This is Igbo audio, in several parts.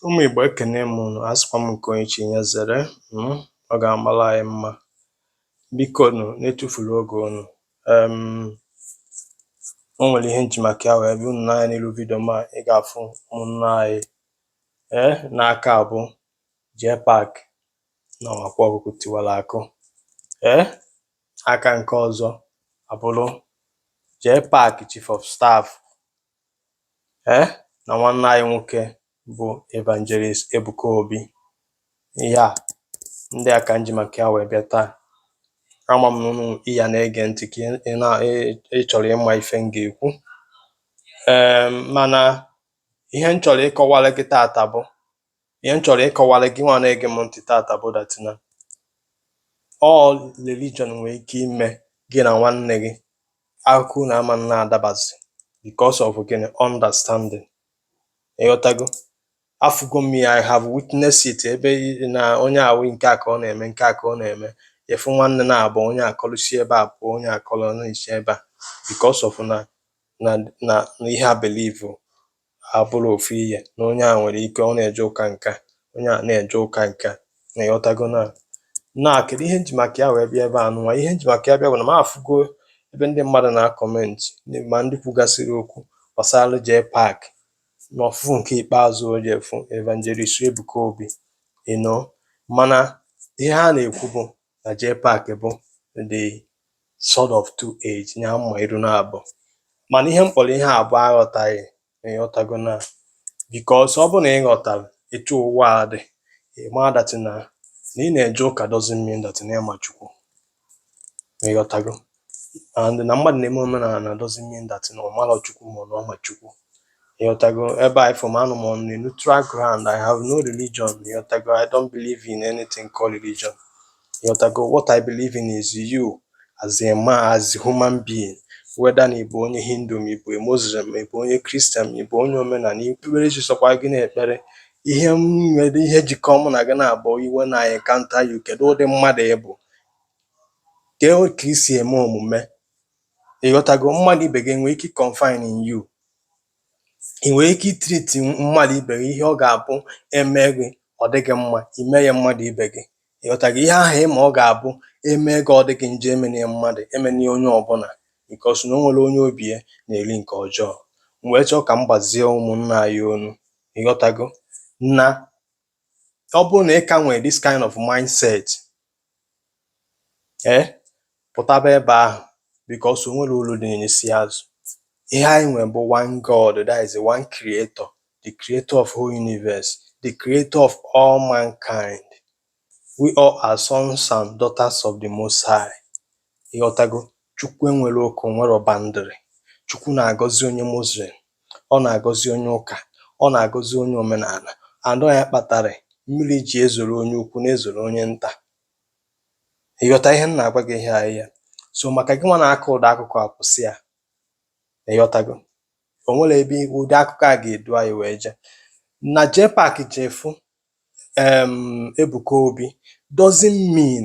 Ụmụ Igbo ekene m unu, asịkwa m nke onye chi ya zere hmm, ọ ga-amara anyị mma. Bikonụ na-etufurọ oge unu. O nwere ihe m ji maka ya wee bịa unu n'anya n'ilu vidio m a ị ga-afụ ụmụnna anyị ee n'aka abụ Jpac na Akwa Ọkụkụ Tiwara Akụ ee aka nke ọzọ abụrụ Jpac chief of staff e na nwanne anyị nwoke bụ Evangelist Ebuka Obi ihe ndị a ka m ji maka ya wee bịa taa ama m na ụnụ ị ya na-ege ntị ka ị na ị chọrọ ịma ife m ga-ekwu ee mana ihe m chọrọ ịkọwara gị taata bụ ihe m chọrọ ịkọwara gị nwa na-ege m ntị taata bụ that na ọ religion nwere ike ime gị na nwanne gị akụkọ unu ama na-adabazi because of gịnị understanding ịghọtago afụgo m ya I have witnessed it ebe ị- na onye ahụ nke a ka ọ na-eme nke a ka ọ na-eme ị fụ nwanne naabọ onye akọlụ si ebe a pụọ onye akọlụ na-esi ebe a because of na na na na ihe ha believe abụrọ ofu ihe na onye a nwere ike ọ na-eje ụka nke a onye a na-eje ụka nke a na ịghọtago na na kedu ihe m ji maka ya wee bịa ebe a nụnwa ihe m ji maka ya bịa bụ na m afụgo ebe ndị mmadụ na-acomment ma ndị kwugasịrị okwu gbasara Jpac na ọfụfụ nke ikpeazụ o je fụ Evangelist Ebuka Obi you know mana ihe ha na-ekwu bụ na Jpac bụ the sword of two edge nya mma iru naabọ mana ihe m kpọrọ ihe a bụ aghọtaghị ịghọtago na because ọ bụrụ na ị ghọtara etu ụwa a dị ị ma that na na ị na-eje ụka doesn't mean that na ị ma Chukwu ịghọtago and na mmadụ na-eme omenala doesn't mean that na ọ marọ Chukwu ma ọ na ọ ma Chukwu ịghọtago ebe a ị fụ m anọ m on a neutral ground I have no religion ịghọtago I don't believe in anything called religion ịghọtago what I believe in is you as a man as a human being whether na ịbụ onye hindu ma ịbụ muslim ma ịbụ onye Christian ma ịbụ onye omenala ikpere chi sọkwa gị na-ekpere ihe m nwere ihe jikọ mụ na gị na-abụ when I encounter you kedu ụdị mmadụ ị bụ Kee o ka i si eme omume? Ị ghọtago? Mmadụ ibe gị e nwere ike confine in you. Ị nwere ike itreat mmadụ ibe gị ihe ọ ga-abụ eme gị ọ dị gị mma, i mee ya mmadụ ibe gị. Ị ghọtago? Ihe ahụ ịma ọ ga-abụ eme gị ọ dị gị njọ emene ya mmadụ, emene ya onye ọbụla because na o nwere onye obi ya na-eri nke ọjọọ. M wee chọọ ka m gbazie ụmụnna anyị ọnụ. Ị ghọtago? Na ọ bụrụ na ị ka nwere this kind of mindset ee eh, pụtaba ebe ahụ because o nwerọ uru dị n'isi azụ ihe anyị nwere bụ one God that is one creator the creator of whole universe the creator of all mankind we all are sons and daughters of the most high ịghọtago Chukwu enwerọ oke, o nwerọ boundary. Chukwu na-agọzi onye Muslim, ọ na-agọzi onye ụka, ọ na-agọzi onye omenala. And ọ ya kpatara mmiri ji ezoro onye ukwu na-ezoro onye nta. Ị ghọta ihe m na-agwa gị ihe a here? So maka gị nwa na-akọ ụdị akụkọ a kwụsị ya. Ị ghọtago? O nwerọ ebe ụdị akụkọ a ga-edu anyị wee jee. Na JPAC jee fụ um, Ebuka Obi doesn't mean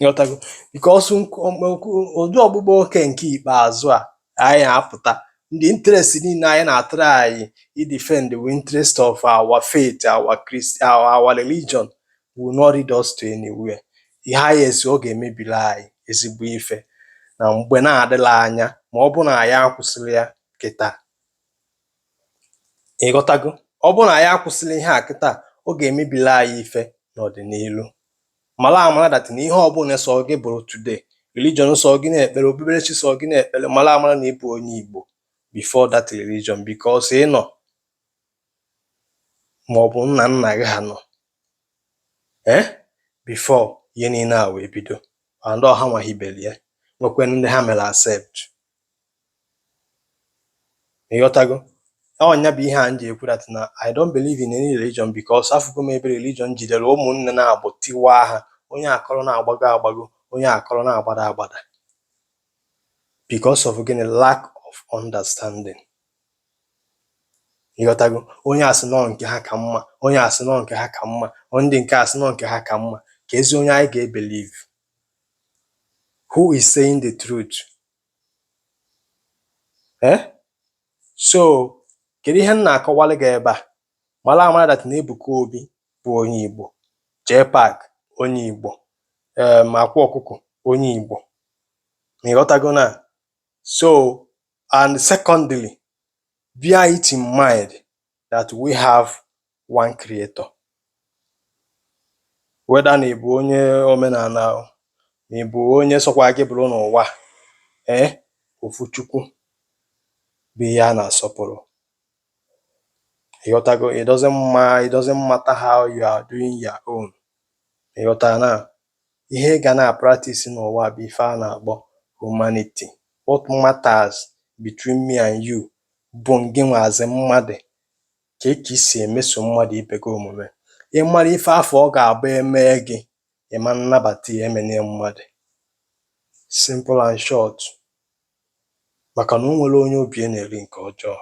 ịghọtago because ụdị ọkpụkpa oke nke ikpeazụ a anyị apụta ndị interest niile anyị na-atry idefend the interest of our faith our, our religion will not lead us to anywhere ihe anyị esi ọ ga-emebiri anyị ezigbo ife na mgbe na-adịrọ anya ma ọ bụ na anyị akwụsịrọ ya kịta Ị ghọtago? Ọ bụrụ na anyị akwụsịrọ ihe a kịta, ọ ga-emebili anyị ife n'ọdịnihu. Mara amara that na ihe ọbụla sọ gị bụrụ today, religion sọ gị na-ekpere, okpukperechi sọ gị na-ekpere, mara amara na ị bụ onye Igbo before that religion because ị nọ ma ọ bụ nna nna gị ha nọ eh before ihe niile a wee bido and ọ ha nwa hibere ya nwekwanụ ndị ha mere accept. ịghọtago ọ nya bụ ihe a m ji ekwu that na I don't believe in any religion because afụgo m ebe religion jidere ụmụnne naabọ tiwaa ha onye akọrọ na-agbago agbago onye akọrọ na-agbada agbada because of gịnị lack of understanding ịghọtago onye asị na ọ nke ha ka mma onye asị na ọ nke ha ka mma ndị nke asị na ọ nke ha ka mma keezi onye anyị ga-ebelieve Who is saying the truth? Eh? So, kedu ihe m na-akọwalụ gị ebe a? Mara amara that na Ebuka Obi bụ onye Igbo, JPAC onye Igbo, um, Akwa Ọkụkọ onye Igbo. Na ịghọtago na so and secondly bear it in mind that we have one creator whether na ị bụ onye omenala o na ị bụ onye sọkwa gị bụrụ n'ụwa a ee ofu chukwu bụ ihe a na-asọpụrụ ịghọtago it doesn't ma it doesn't matter how you are doing your own ịghọtara na Ihe ị ga na-apractice n'ụwa bụ ife a na-akpọ humanity. What matters between me and you bụ ngịnwa as mmadụ, kee ka i si emeso mmadụ ibe gị omume. Ị mara ife afụ ọ ga-abụ e mee gị, ị ma nnabata ya, emena ya mmadụ. Simple and short. maka na o nwere onye obi ya na-eri nke ọjọọ.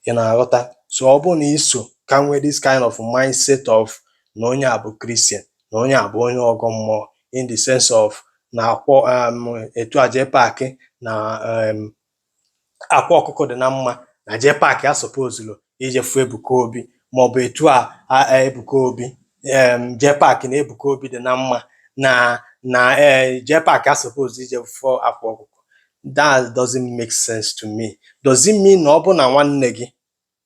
Ị na-aghọta? So ọ bụ na i so ka nwee this kind of mindset of na onye a bụ Christian, na onye a bụ onye ọgọ mmụọ in the sense of na akwọ um, etu a JPac na um, Akwa Ọkụkọ dị na mma na JPac asupposerọ ije fụ Ebuka Obi maọbụ etu a Ebuka Obi, JPac na Ebuka Obi dị na mma na na e, JPac asuppose ije fụ Akwa Ọkụkọ that doesn't make sense to me does it mean na ọ bụ na nwanne gị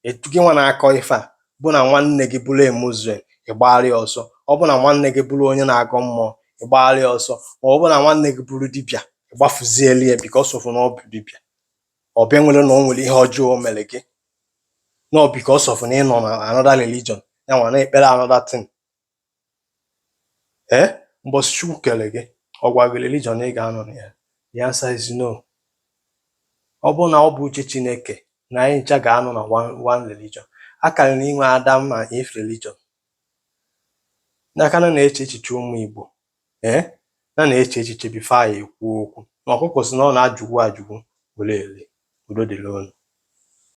etu gị nwa na-akọ ife a bụ na nwanne gị bụrụ Muslim ịgbagharị ọsọ ọ bụ na nwanne gị bụrụ onye na-agọ mmụọ ịgbagharị ọsọ ma ọ bụ na nwanne gị bụrụ dibịa ịgbafuzieli ya because of na ọ bụ dibịa ọ bịa nwere na o nwere ihe ọjọọ o mere gị na ọ because of na ị nọ na another religion ya nwa na-ekpere another thing ee mbọsị Chukwu kere gị ọ gwa gị religion ị ga-anọ na ya the answer is no ọ bụ na ọ bụ uche Chineke na anyị ncha ga-anọ na one, one religion a kara na-enwe Adam na Eve religion ka anyị na-eche echiche ụmụ Igbo ee na na-eche echiche before anyị ekwuo okwu na ọkụkọ si na ọ na-ajụgbu ajụgbu were ele udo dịrị unu